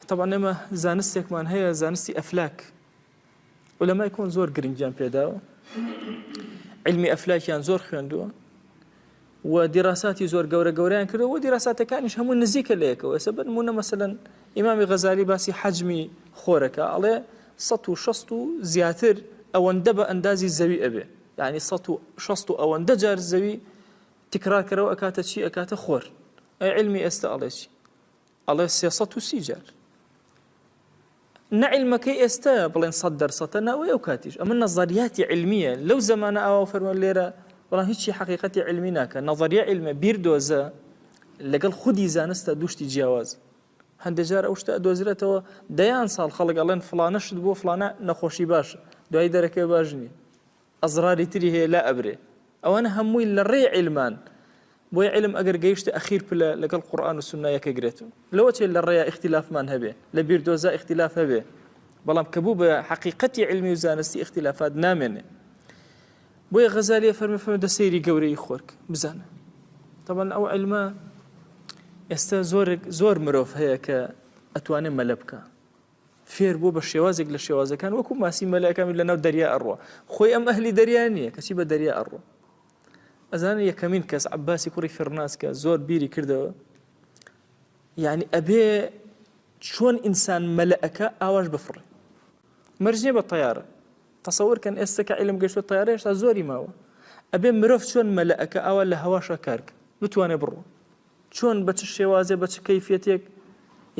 تەبعەن ئێمە زانستێکمان هەیە زانستی ئەفلاک ولەمای کۆن زۆر گرنگیان پێداوە علمی ئەفلاکیان زۆر خوێندووە و دیراساتی زۆر گەورە گەوریان کردو و دیراساتەکانیش هەموو نزیکە لەیەکەوە سە بن مونە مەسەن ئیمامی غەزاری باسی حەجمی خۆرەکە ئەڵێ 1600 و زیاتر ئەوەندە بە ئەندازی زەوی ئەبێ یعنی 1600 و ئەوەندە جار زەوی تکراکەرەوە ئەکاتە چی ئەکاتە خۆر ئەی علمی ئێستا ئەڵێ چی ئەڵێ سێ سەد و سی جار نە علمەکەی ئێستا بڵێن سەد دەرسەتە ناوەی ئەو کاتیش ئەمە نەزەریاتی علمیە لەو زمانە ئاوا فەرمە لێرە بەڵام هیچی حقیقەتی علمی ناکە نەظریە علمە بیر دۆزە لەگەڵ خودی زانستە دوشتی جیاواز هەندێک جار ئەو شتە دۆزرێتەوە دەیان ساڵ خەڵک ئەڵێن فلانە شت بۆ فلانە نەخۆشی باشە دوای دەرەکەی باش نییە ئەزراری تری هەیە لا ئەبرێ ئەوانە هەمووی لە ڕێی عیلمان بۆی عیلم ئەگەر گەیشتە ئەخیر پلە لەگەڵ قورئان و سوننا یەک ئەگرێت و لەوە چێ لە ڕێیا ئیختیلافمان هەبێ لە بیردۆزا ئیختیلاف هەبێ بەڵام کە بوو بە حەقیقەتی علمی و زانستی ئیختیلافات نامێنێ بۆیە غەزالیە فەرمی فەرمە دە سەیری گەورەی خۆرک بزانە طبعا ئەو علمە ئێستا زۆر زۆر مرۆڤ هەیە کە ئەتوانێ مەلە بکە فێر بووە بە شێوازێک لە شێوازەکان وەکو ماسی مەلایکامی لەناو دەریا ئەڕوە خۆی ئەم ئەهلی دەریا نییە کەچی بە دەریا ئەڕوە ئەزانە یەکەمین کەس عباسی کوڕی فڕناسکە زۆر بیری کردەوە یعنی ئەبێ چۆن ئینسان مەلەکە ئاواش بفڕێ مەرجێ بە تیارە تەسەورکەن ئێستا کە علم گەشتە تیارە هێشتا زۆری ماوە ئەبێ مرۆڤ چۆن مەلەکە ئاوا لە هەواشە کارکە بتوانێ بڕوە چۆن بە چ شێوازێ بە چ کەیفیەتێک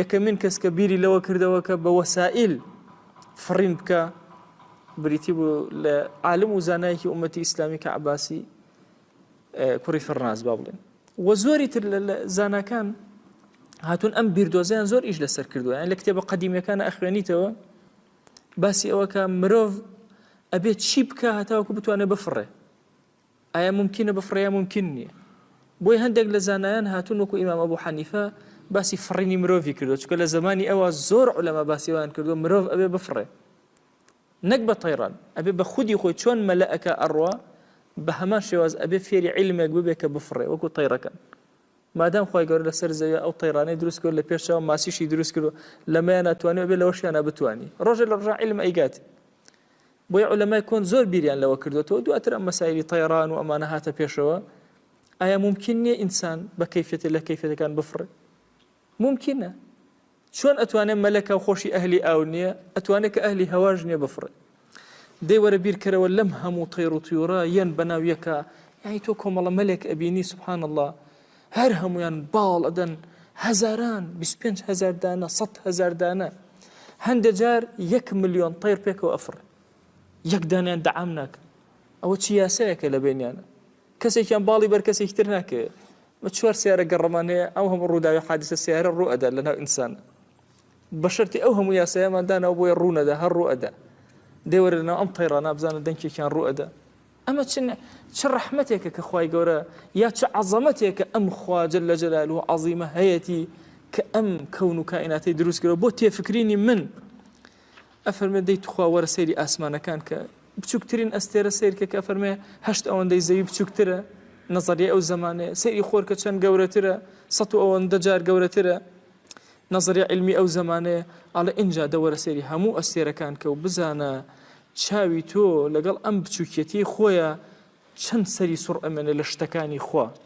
یەکەمین کەس کە بیری لەوە کردەوە کە بە وەسائیل فڕین بکە بریتی بوو لە عالم و زانایەکی ئومەتی ئیسلامی کە عباسی کوڕی فەرناز با بڵێن وە زۆری تر لە زانکان هاتون ئەم بیردۆزیان زۆر ئیش لەسەر کردووە یان لە کتێبە قەدیمەکان ئەخوێنیتەوە باسی ئەوە کە مرۆڤ ئەبێت چی بکە هەتاوکو بتوانێت بفڕێ ئایا مومکینە بفڕێ یا مومکین نییە؟ بۆیە هەندێک لە زانایان هاتوون وەکو ئیمام ئەبو حەنیفە باسی فڕینی مرۆڤی کردووە، چونکە لە زەمانی ئەوا زۆر عولەما باسی وایان کردووە مرۆڤ ئەبێ بفڕێ نەک بە تەیڕان، ئەبێ بە خودی خۆی چۆن مەلەکە ئەڕوا بە هەمان شێواز ئەبێ فێری عیلمێک ببێ کە بفڕێ وەکو تەیڕەکەن. مادام خی گەور لەسەر زەوی ئەو تەیرانەی دروست کرد لە پێشەوە ماسیشی دروست کرد و لەمەیان ناتوانێت بێ لەوەشیانە بتانی ڕۆژە لە ڕژە علم ئەیگاتی بۆیە عولەمای کۆن زۆر بیریان لەوە کردوێتەوە دواتر ئەم مەسایلی تەیڕان و ئەمانە هاتە پێشەوە ئایا ممکن نییە ئینسان بە کەفێتی لە کەفێتەکان بفڕێ ممکنە چۆن ئەتوانێت مەلەکە و خۆشی ئەهلی ئاو نییە ئەتوانێت کە ئەهلی هەواش نییە بفڕێ دەیوەرە بیرکەرەوە لەم هەموو تەیڕ و تیورە یەن بەناو یەکە یعنی تۆ کۆمەڵە مەلێک ئەبینی سبحان الله هەر هەموویان باڵ ئەدەن هەزاران بیست پێنج هەزار دانە سەد هەزار دانە هەندێک جار یەک ملیۆن تەیر پێکەوە ئەفڕێ یەک دانیان دەعام ناکە ئەوە چی یاسایەکە لە بینیانە کەسێکیان باڵی بەر کەسێکی تر ناکەێ بە چوار سیارە گەڕەمان هەیە ئەو هەموو ڕووداوی حادیسە سیارە ڕوو ئەدا لە ناو ئینسان بە شەرتی ئەو هەموو یاسایەماندانەوە بۆیە ڕوونەدا هەر ڕوو ئەدا دێوەرە لەناو ئەم تەیڕانە بزانە دەنکێکیان ڕوو ئەدا ئەمە چ چ ڕەحمەتێکە کە خوای گەورە یا چ عەزەمەتێکە ئەم خوا جل جلاله و عەزیمە هەیەتی کە ئەم کەون و کائیناتی دروست کرەوە بۆ تێفکرینی من ئەفەرمێ دەی تخوا وەرە سەیری ئاسمانەکان کە بچووکترین ئەستێرە سیرکە کە فەرمێ هەشت ئەوەندەی زەوی بچووکترە نەزەریە ئەو زمانێ سەیری خۆرکە چەند گەورەترە سە و ئەوەندە جار گەورەترە نەزەریە عیلمی ئەو زەمانەیە ئەڵێ ئینجا دەوەرە سەیری هەموو ئەستێرەکان کە و بزانە چاوی تۆ لەگەڵ ئەم بچووکیەتیی خۆیە چەند سەری سوڕ ئەمێنێ لە شتەکانی خوا.